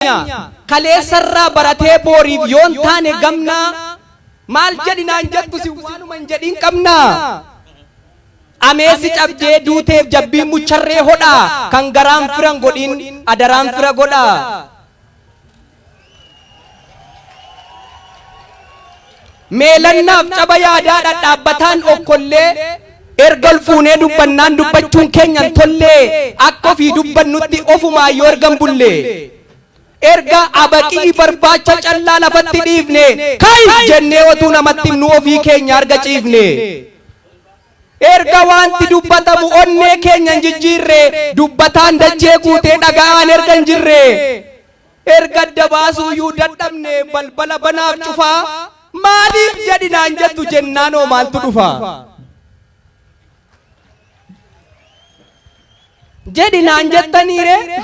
keenya kaleessarraa baratee booriif yoon taane gamnaa maal jedhi naan jettu si waanuma hin jedhiin qabnaa ameessi cabdee duuteef jabbiin mucharree hodhaa kan garaan firan godhiin adaraan fira godhaa Meelannaaf caba yaadaa dhadhaabbataan okkollee Erga ol fuunee dubbannaan dubbachuun keenya hin tollee Akka ofii dubbannutti ofumaan yoo erga hin bullee Erga abaqii barbaacha callaa lafatti dhiifnee Kai! jennee otuu namatti himnuu ofii keenya arga ciifnee Erga waanti dubbatamu onnee keenya hin jijjiirree Dubbataan dachee guutee dhaga'aan erga hin jirree. Erga adda baasuuyyuu dadhabne balbala banaaf cufaa maaliif jedhi naan jettu jennaanoo maaltu dhufa? Jedhi naan jettaniiree?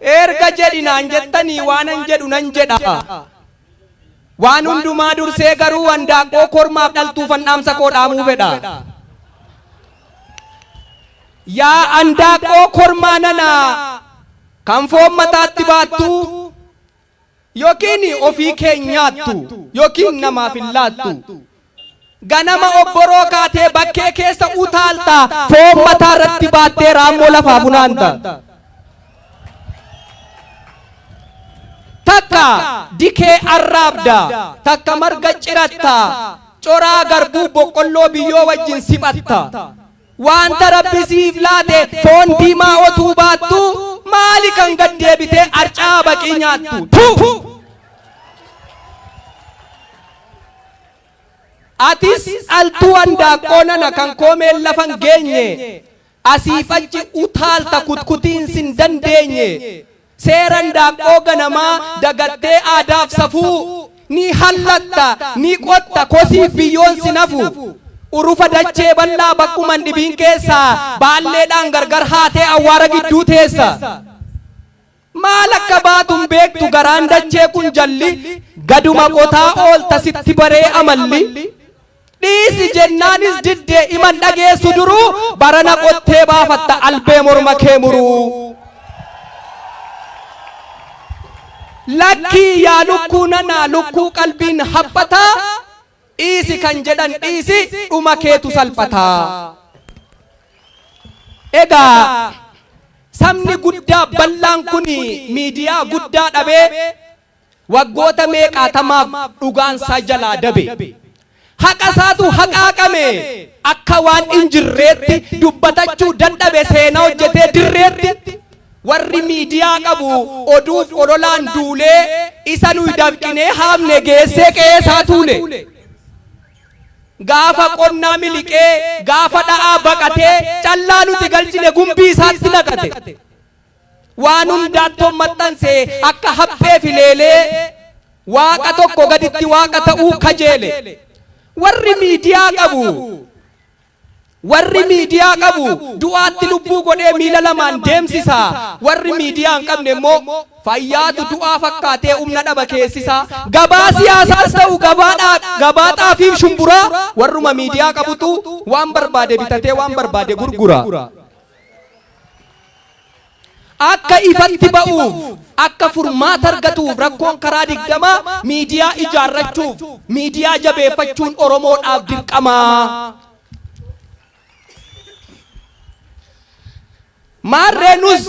Erga jedhi naan jettanii waanan jedhu nan jedha. Waan hundumaa dursee garuu handaaqqoo kormaaf dhaltuufan dhaamsa koo dhaamuu fedha. Yaa handaaqqoo kormaa nanaa kan foon mataatti baattu yookiin ofii kee nyaattu yookiin namaaf hin laattu Ganama obboroo kaatee bakkee keessa utaalta, foon mataa irratti baattee raammoo lafaa funaanta. Takka dikee arraabda, takka marga ciratta, coraa garbuu boqqolloo biyyoo wajjin siphatta. Wanta Rabbi siif laate foon diimaa otuu baattuu maali kan gad deebitee arca'aa baqii nyaattu? Tu! Atis dhaltuu handaaqqoo nana kan koomeen lafa hin geenye asiif achi utaalta kutkutiin sin dandeenye. Seera indaaqqoo ganamaa dagattee aadaaf safuu Ni hallatta, ni qotta, kosiif biyyoon sin hafu Urufa dachee bal'aa bakkuma hin dhibiin keessa Baalleedhaan gargar haatee awwaara gidduu teessa Maal akka baatu hin beektu garaan dachee kun jalli Gaduma qotaa oolta sitti baree amalli Dhiisi jennaanis didde iman dhageessu duruu barana qottee baafatta albee morma kee muruu. Lakkii yaa lukkuu nanaa lukkuu qalbiin haphataa dhiisi kan jedhan dhiisi dhuma keetu salphataa. Egaa sabni guddaa bal'aan kun miidiyaa guddaa dhabee Waggoota meeqaatamaaf dhugaan isaa jalaa dabe. Haqa isaatu haqaaqame. Akka waan hin jirreetti dubbatachuu dadhabe seenaa hojjetee dirreetti. Warri miidiyaa qabu oduuf ololaan duulee isa nuyi dafqinee haamne geessee qe'ee isaa tuule. Gaafa qonnaa miliqee, gaafa dha'aa baqatee callaa nuti galchine gumbii isaatti naqate. Waan hundaattoon maxxanse akka haphee fi leelee waaqa tokko gaditti waaqa ta'uu kajeele. Warri miidiyaa qabu warri miidiyaa qabu du'aatti lubbuu godhee miila lamaan deemsisa. Warri miidiyaa hin qabne immoo fayyaatu du'aa fakkaatee humna dhaba keessisa. Gabaa siyaasaas ta'u gabaa dhaab- gabaa xaafiif shumburaa warruma miidiyaa qabutu waan barbaade bitatee waan barbaade gurgura. akka ifatti ba'uuf, akka furmaata argatuuf rakkoon karaa digdamaa miidiyaa ijaarrachuuf, miidiyaa jabeeffachuun Oromoodhaaf dirqamaa. Maarree nus.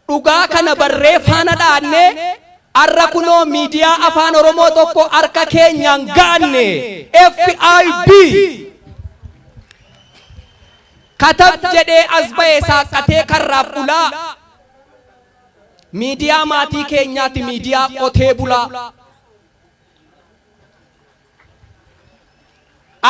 Dhugaa kana barree faana dha'annee arra kunoo miidiyaa Afaan Oromoo tokko harka keenyaan ga'anne. FIB! Katab jedhee as ba'e saaqqatee karraaf ulaa. Miidiyaa maatii keenyaati miidiyaa qotee bulaa.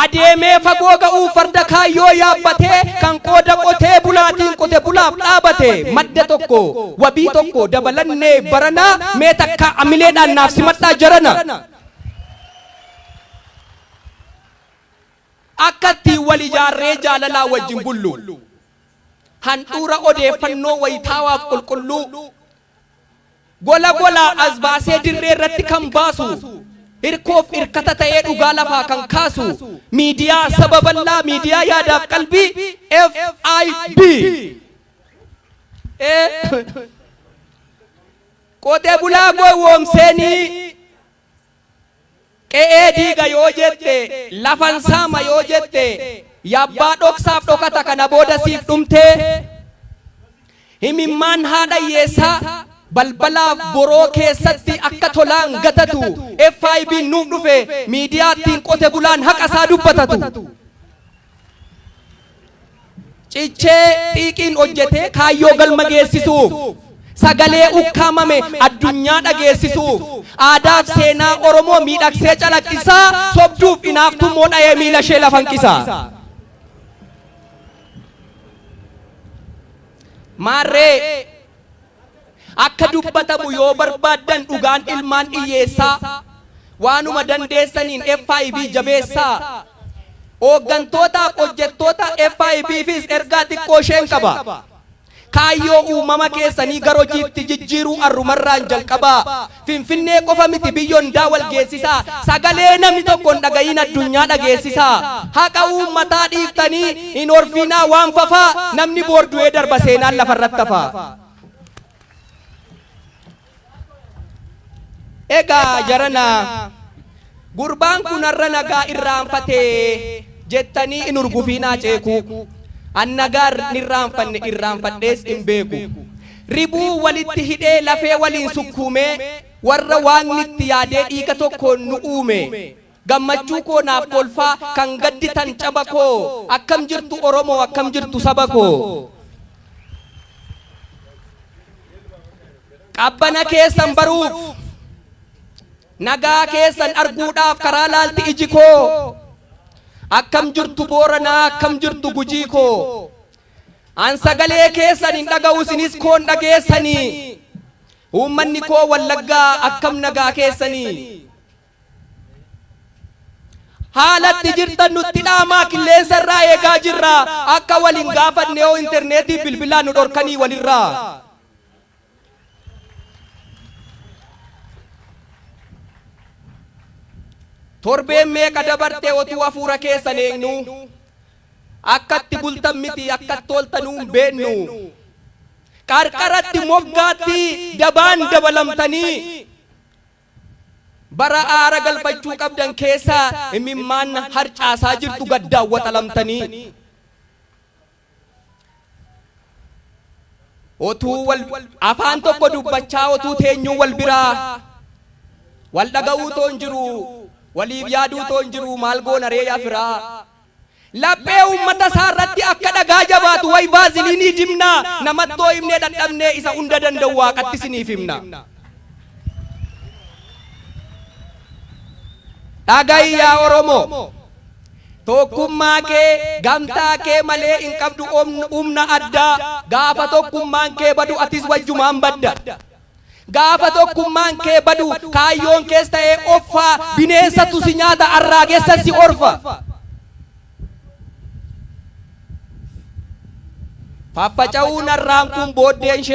Adeemee fagoo ga'uuf farda kaayyoo yaabbatee kan qooda qotee bulaatiin qote bulaaf dhaabate madda tokko wabii tokko dabalannee baranaa mee takka amileedhaan naaf simadhaa jarana. Akka ittiin wal ijaarree jaalalaa wajjin bullu handhuura odeeffannoo wayitaawaaf qulqulluu Gola golaa as baasee dirree irratti kan baasu, hirkoof hirkata ta'ee dhugaa lafaa kan kaasu, miidiyaa saba bal'aa, miidiyaa yaadaaf qalbii FIB! Ee! Qotee bulaa gowwoomseenii! Qe'ee diiga yoo jette, lafan saama yoo jette, yabbaa dhoksaaf dhokata kana booda siif dhumtee? Himimmaan haadha hiyyeessaa balbalaaf boroo keessatti akka tolaan gatatu FIBn nuuf dhufe miidiyaa ittiin qote bulaan haqa isaa dubbatatu. Cichee xiiqiin hojjetee kaayyoo galma geessisuuf, sagalee ukkaamame addunyaa dhageessisuuf, aadaaf seenaa Oromoo miidhagsee calaqqisaa, sobduuf inaaftummoo dhayee miilashee lafa hanqisaa. Maarree Akka dubbatamu yoo barbaaddan dhugaan ilmaan dhiyyeessaa. Waanuma dandeessaniin FIB jabeessaa. Ooggantootaaf hojjettoota FIBfis ergaa xiqqoo isheen qaba. Kaayyoo uumama keessanii gar hojiitti jijjiiruu arrumarraan jalqabaa. Finfinnee qofa miti biyya hundaa wal geessisaa sagalee namni tokko hin dhaga'iin addunyaa dhageessisaa haqa uummataa dhiiftanii hin horfiinaa waan fafaa namni boor du'ee darba seenaan lafarratti hafaa. Egaa jarana. Gurbaan kun har'a nagaa irraanfate jettanii hin hurgufiinaa ceekuu. An nagaa hin irraanfanne irraanfadhees hin beeku. Ribuu walitti hidhee lafee waliin sukkuumee warra Waaqni itti yaadee dhiiga tokkoon nu uume. Gammachuu koo naaf kolfaa kan gadditan caba koo akkam jirtu Oromoo akkam jirtu saba koo. Qabbana keessan baruuf. Nagaa keessan arguudhaaf karaa laalti iji koo Akkam jirtu Booranaa akkam jirtu Gujii koo An sagalee keessan hin dhaga'u isinis koon dhageessanii Uummanni koo Wallaggaa akkam nagaa keessanii Haala itti jirtan nutti dhaamaa qilleensa irraa eegaa jirra akka wal hin gaafanne yoo interneetii bilbilaa nu dhorkanii walirraa. Torbeen meeqa dabarte otuu afuura keessan eegnuu Akka itti bultan miti akka itti ooltanuu hin beennu Qarqaratti moggaatti dabaan dabalamtanii Bara aara galfachuu qabdan keessa imimmaan harcaasaa jirtu gaddaan waxalamtanii. Otuu wal afaan tokko dubbachaa otuu teenyuu wal biraa wal dhaga'uu toon jiruu waliif yaaduu toon jiruu maal goona ree yaa firaa? Laphee uummata isaa irratti akka dhagaa jabaatu way vaaziliinii dibnaa namattoo himnee dhadhabnee isa hunda danda'u waaqatti isiniif himna. Dhaga'i yaa Oromoo! Tokkummaa kee gamtaa kee malee hin qabdu umna addaa gaafa tokkummaan kee badu atis wajjumaan badda gaafa tokkummaan kee badu kaayyoon kees ta'ee offaa bineensatu si nyaata arraagessa si orfa faffaca'uu narraan kun booddeen ishee